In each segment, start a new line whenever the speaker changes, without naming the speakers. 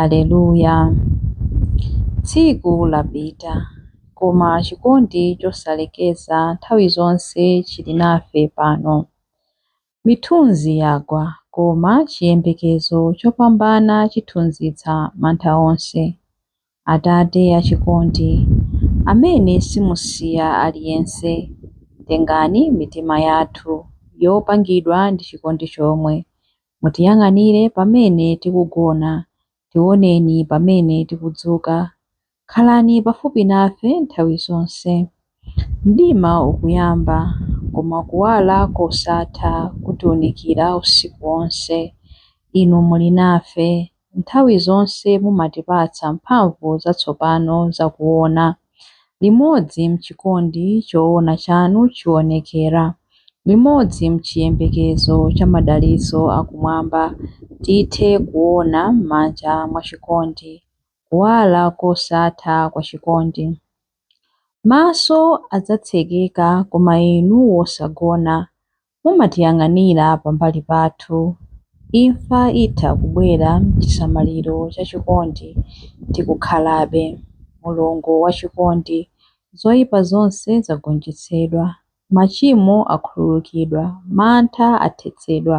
Aleluya! Tsiku lapita, koma chikondi chosalekeza nthawi zonse chili nafe pano. Mithunzi yagwa, koma chiyembekezo chopambana chithunzitsa mantha onse. Atate achikondi, amene simusiya aliyense, tengani mitima yathu yopangidwa ndi chikondi chomwe, mutiyang'anire pamene tikugona, tioneni pamene tikudzuka, khalani pafupi nafe nthawi zonse. Mdima ukuyamba, koma Kuwala kosatha kutiunikira usiku wonse. Inu muli nafe. Nthawi zonse mumatipatsa mphamvu zatsopano zakuwona. Limodzi m'chikondi chowona chanu chiwonekera, limodzi m'chiyembekezo cha madalitso akumwamba, tithe kuwona m'manja mwa chikondi, Kuwala kosatha kwa chikondi. Maso adzatsekeka koma inu wosagona mumatiyang'anira pambali pathu. Imfa itha kubwera mchisamaliro cha chikondi tikukhalabe. Mulungu wa chikondi. Zoipa zonse zagonjetsedwa. Machimo akhululukidwa. Mantha athetsedwa.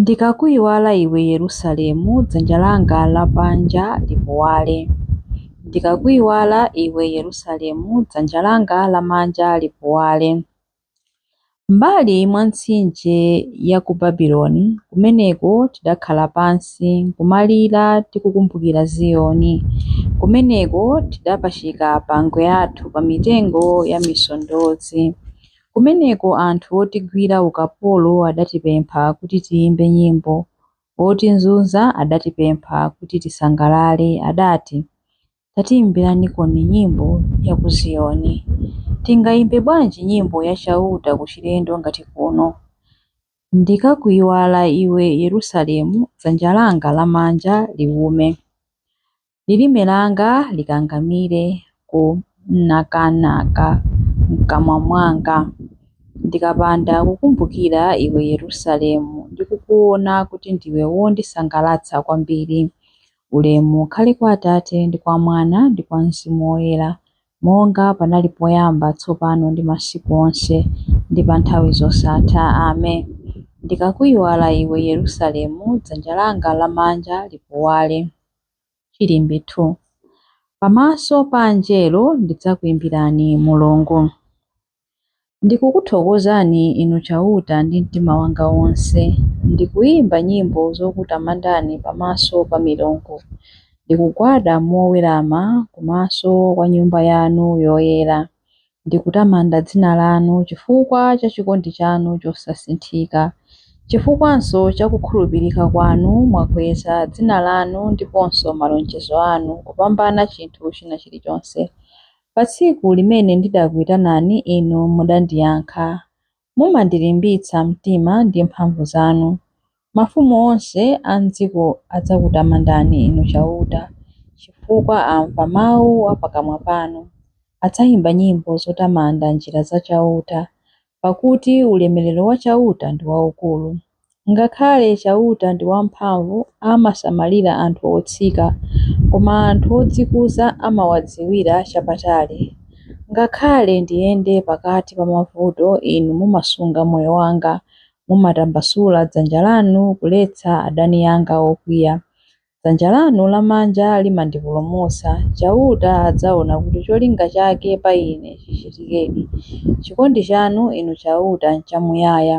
Ndikakuiwala iwe Yerusalemu, dzanja langa lamanja lipuwale. Ndikakuiwala iwe Yerusalemu, dzanja langa lamanja lipuwale. M'mbali mwa mtsinje ya ku Babiloni, kumeneko tidakhala pansi nkumalira tikukumbukira Ziyoni. Kumeneko tidapachika pangwe athu pa mitengo ya misondozi. Kumeneko anthu otigwira ukapolo adatipempha kuti tiimbe nyimbo. Otizunza adatipempha kuti tisangalale, adati, Tatiimbiranikoni nyimbo ya ku Ziyoni. Tingaimbe bwanji nyimbo ya Chauta kuchilendo ngati kuno? Ndikakuiwala iwe Yerusalemu, dzanja langa lamanja liume. lilime langa likangamire ku nakanaka m'kamwa mwanga, ndikapanda kukumbukira iwe Yerusalemu ndi kukuona kuti ndiwe wondisangalatsa kwambiri. Ulemu ukhale kwa Atate, ndi kwa Mwana, ndi kwa Mzimu Woyera, monga panali poyamba, tsopano ndi masiku onse, ndi pa nthawi zosatha. Ame. Ndikakuiwala iwe Yerusalemu, dzanja langa lamanja lipuwale. Chilimbi 2. Pamaso pa Angelo ndidzakuimbirani, Mulungu. Ndikukuthokozani Inu Chauta ndi mtima wanga wonse, ndikuimba nyimbo zokutamandani pamaso pa milungu, ndikugwada mowerama kumaso kwa Nyumba yanu yoyera, Ndikutamanda dzina lanu chifukwa cha chikondi chanu chosasinthika. Chifukwanso cha kukhulupirika kwanu, mwakweza dzina lanu ndiponso malonjezo anu kupambana chinthu china chilichonse. Pa tsiku limene ndidakuitanani, Inu mudandiyankha. Mumandilimbitsa mtima ndi mphamvu zanu. Mafumu onse a m'dziko adzakutamandani, Inu Chauta, chifukwa amva mau a pakamwa panu. Adzaimba nyimbo zotamanda njira za Chauta, pakuti ulemerero wa Chauta ndi waukulu. Ngakhale Chauta ndi wamphamvu, amasamalira anthu otsika, koma anthu odzikuza amawadziwira chapatali. Ngakhale ndiyende pakati pa mavuto, Inu mumasunga moyo wanga, mumatambasula dzanja lanu kuletsa adani anga okwiya. Dzanja lanu lamanja limandipulumutsa. Chauta adzaona kuti cholinga chake pa ine chichitikedi. Chikondi chanu, Inu Chauta, nchamuyaya.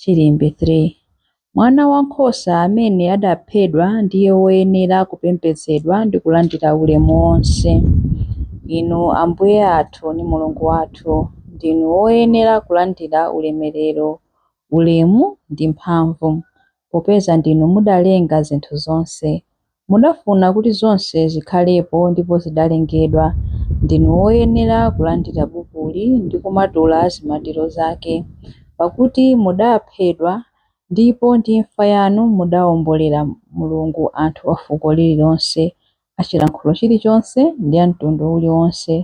Chilimbi 3. Mwana wa nkhosa amene adaphedwa ndiye woyenera kupembedzedwa ndi kulandira ulemu wonse. Inu Ambuye athu ndi Mulungu wathu, ndinu woyenera kulandira ulemerero, ulemu ndi mphamvu, popeza ndinu mudalenga zinthu zonse. Mudafuna kuti zonse zikhalepo ndipo zidalengedwa. Ndinu woyenera kulandira bukuli ndi kumatula zimatiro zake. Pakuti mudaaphedwa, ndipo ndi imfa yanu mudaombolera Mulungu anthu a fuko lililonse, a chilankhulo chilichonse ndi a mtundu uliwonse.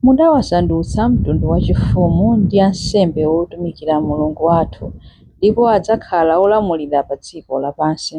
Mudawasandutsa mtundu wachifumu ndi ansembe otumikira Mulungu wathu, ndipo adzakhala olamulira pa dziko lapansi.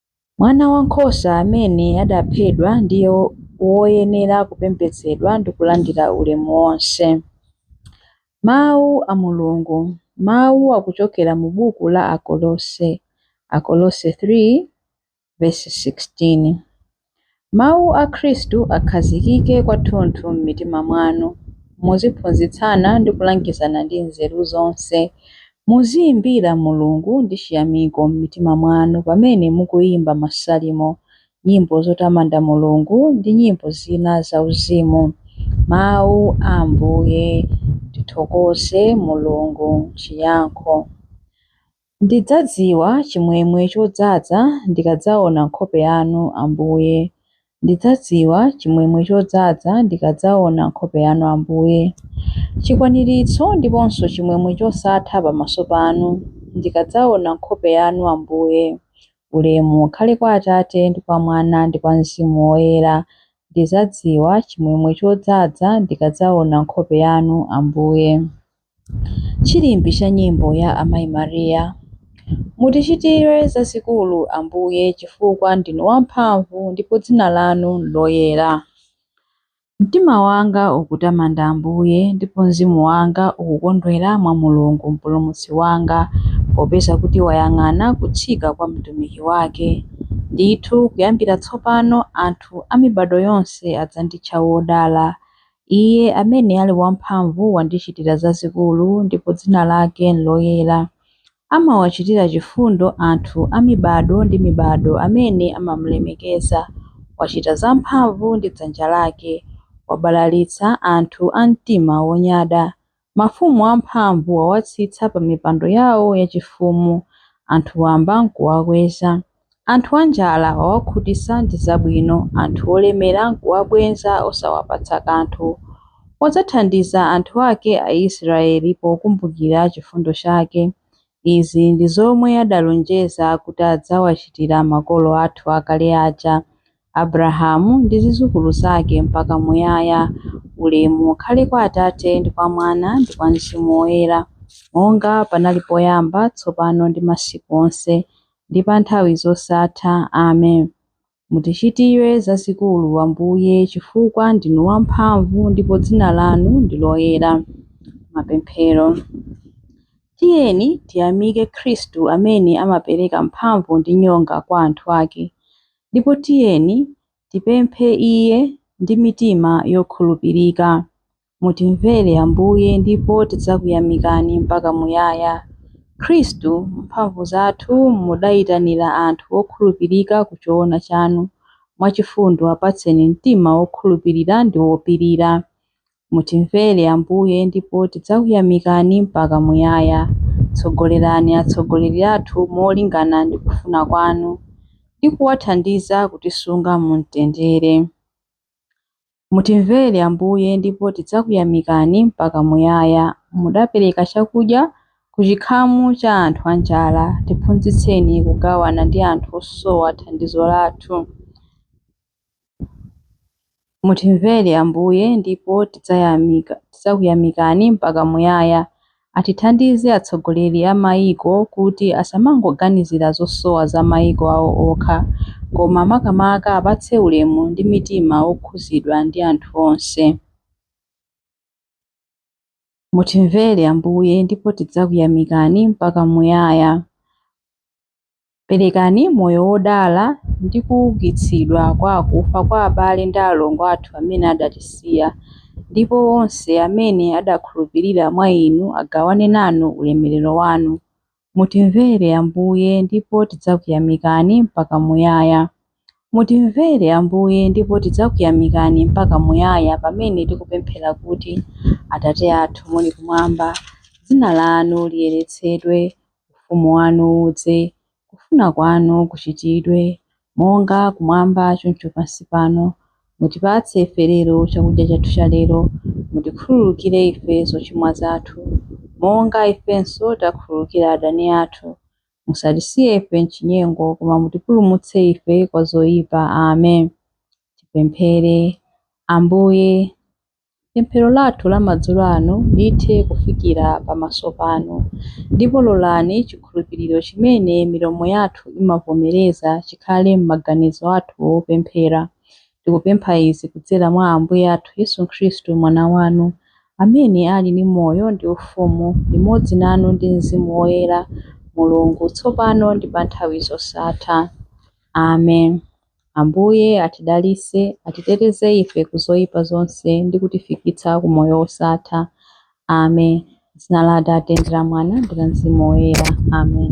Mwana wa nkhosa amene adaphedwa ndiye woyenera kupembedzedwa ndi kulandira ulemu wonse. Mawu a Mulungu, mawu akuchokera mu buku la Akolose, Akolose 3 vesi 16. Mawu a Khristu akhazikike kwathunthu m'mitima mwanu. Muziphunzitsana ndi kulangizana ndi nzeru zonse. Muziyimbira Mulungu ndi chiyamiko m'mitima mwanu pamene mukuyimba masalimo, nyimbo zotamanda Mulungu ndi nyimbo zina zauzimu. Mawu a Ambuye Tithokoze Mulungu Chiyankho Ndidzadziwa chimwemwe chodzaza ndikadzaona nkhope yanu, Ambuye. Ndidzadziwa chimwemwe chodzaza ndikadzaona nkhope yanu, Ambuye. Chikwaniritso ndiponso chimwemwe chosatha pamaso panu, ndikadzaona nkhope yanu, Ambuye. Ulemu ukhale kwa Atate, ndi kwa Mwana, ndi kwa Mzimu Woyera. Ndidzadziwa chimwemwe chodzaza ndikadzaona nkhope yanu, Ambuye. Chilimbi cha nyimbo ya Amayi Maria. Mutichitire zazikulu, Ambuye, chifukwa ndinu wamphamvu ndipo dzina lanu nloyera. Mtima wanga ukutamanda Ambuye, ndipo mzimu wanga ukukondwera mwa Mulungu Mpulumutsi wanga, popeza kuti wayang'ana kutsika kwa mtumiki wake. Ndithu kuyambira tsopano anthu a mibadwo yonse adzanditcha wodala, Iye amene ali wamphamvu wandichitira zazikulu ndipo dzina lake n'loyera. Amawachitira chifundo anthu a mibadwo ndi mibadwo amene amamulemekeza. Wachita zamphamvu ndi dzanja lake. Wabalalitsa anthu a mtima wonyada. Mafumu amphamvu wawatsitsa pa mipando yao yachifumu, anthu wamba nkuwakweza. Anthu anjala wawakhutisa ndi zabwino, anthu olemera nkuwabwenza osawapatsa kanthu. Wadzathandiza anthu ake Aisraeli pokumbukira chifundo chake. Izi ndi zomwe adalonjeza kuti adzawachitira makolo athu akale aja, Abrahamu ndi zizukulu zake mpaka muyaya. Ulemu ukhale kwa Atate ndi kwa Mwana ndi kwa Mzimu Woyera, monga panali poyamba, tsopano ndi masiku onse, ndi pa nthawi zosatha. Amen. Mutichitire zazikulu, Ambuye, chifukwa ndinu wamphamvu ndipo dzina lanu ndi loyera. Mapemphero. Tiyeni tiyamike Khristu amene amapereka mphamvu ndi nyonga kwa anthu ake. ndipo tiyeni tipemphe Iye ndi mitima yokhulupirika. Mutimvere, Ambuye, ndipo tidzakuyamikani mpaka muyaya. Khristu, mphamvu zathu mudaitanira anthu okhulupirika ku choona chanu, mwachifundo apatseni mtima wokhulupirira ndi wopirira. Mutimvere Ambuye ndipo tidzakuyamikani mpaka muyaya. Tsogolerani atsogoleri athu molingana ndi kufuna kwanu ndi kuwathandiza kutisunga mu mtendere. Mutimvere Ambuye ndipo tidzakuyamikani mpaka muyaya. Mudapereka chakudya ku chikhamu cha anthu anjala, tiphunzitseni kugawana ndi anthu osowa thandizo lathu. Mutimvere Ambuye ndipo tidza, tidzakuyamikani mpaka muyaya. Atithandize atsogoleri a maiko kuti asamangoganizira zosowa za maiko awo okha koma makamaka apatse ulemu ndi mitima wokhuzidwa ndi anthu onse. Mutimvere Ambuye ndipo tidzakuyamikani mpaka muyaya. Perekani moyo wodala ndi kuukitsidwa kwa akufa kwa abale ndi alongo athu amene adatisiya, ndipo onse amene adakhulupirira mwa inu agawane nanu ulemerero wanu. Mutimvere, Ambuye, ndipo tidzakuyamikani mpaka muyaya. Mutimvere Ambuye ndipo tidzakuyamikani mpaka muyaya pamene tikupemphera kuti, Atate athu muli kumwamba, dzina lanu liyeretsedwe, ufumu wanu udze, kufuna kwanu kuchitidwe, monga kumwamba choncho pansi pano. Mutipatse ife lero chakudya chathu chalero. Mutikhululukire ife zochimwa zathu, monga ifenso takhululukira adani athu. Musatisiye ife m'chinyengo, koma mutipulumutse ife kwa zoyipa. Amen. Tipemphere. Ambuye, pemphero lathu la madzulo ano lithe kufikira pamaso panu, ndipo lolani chikhulupiriro chimene milomo yathu imavomereza chikhale m'maganizo athu opemphera, Tikupempha izi kudzera mwa Ambuye athu Yesu Khristu, Mwana wanu, amene ali ndi moyo ndi ufumu limodzi nanu ndi Mzimu Woyera, Mulungu, tsopano ndi pa nthawi zosatha. Amen. Ambuye atidalitse, atiteteze ife ku zoyipa zonse ndi kutifikitsa ku moyo wosatha. Amen. M'dzina la Atate ndi la Mwana ndi la Mzimu Woyera. Amen.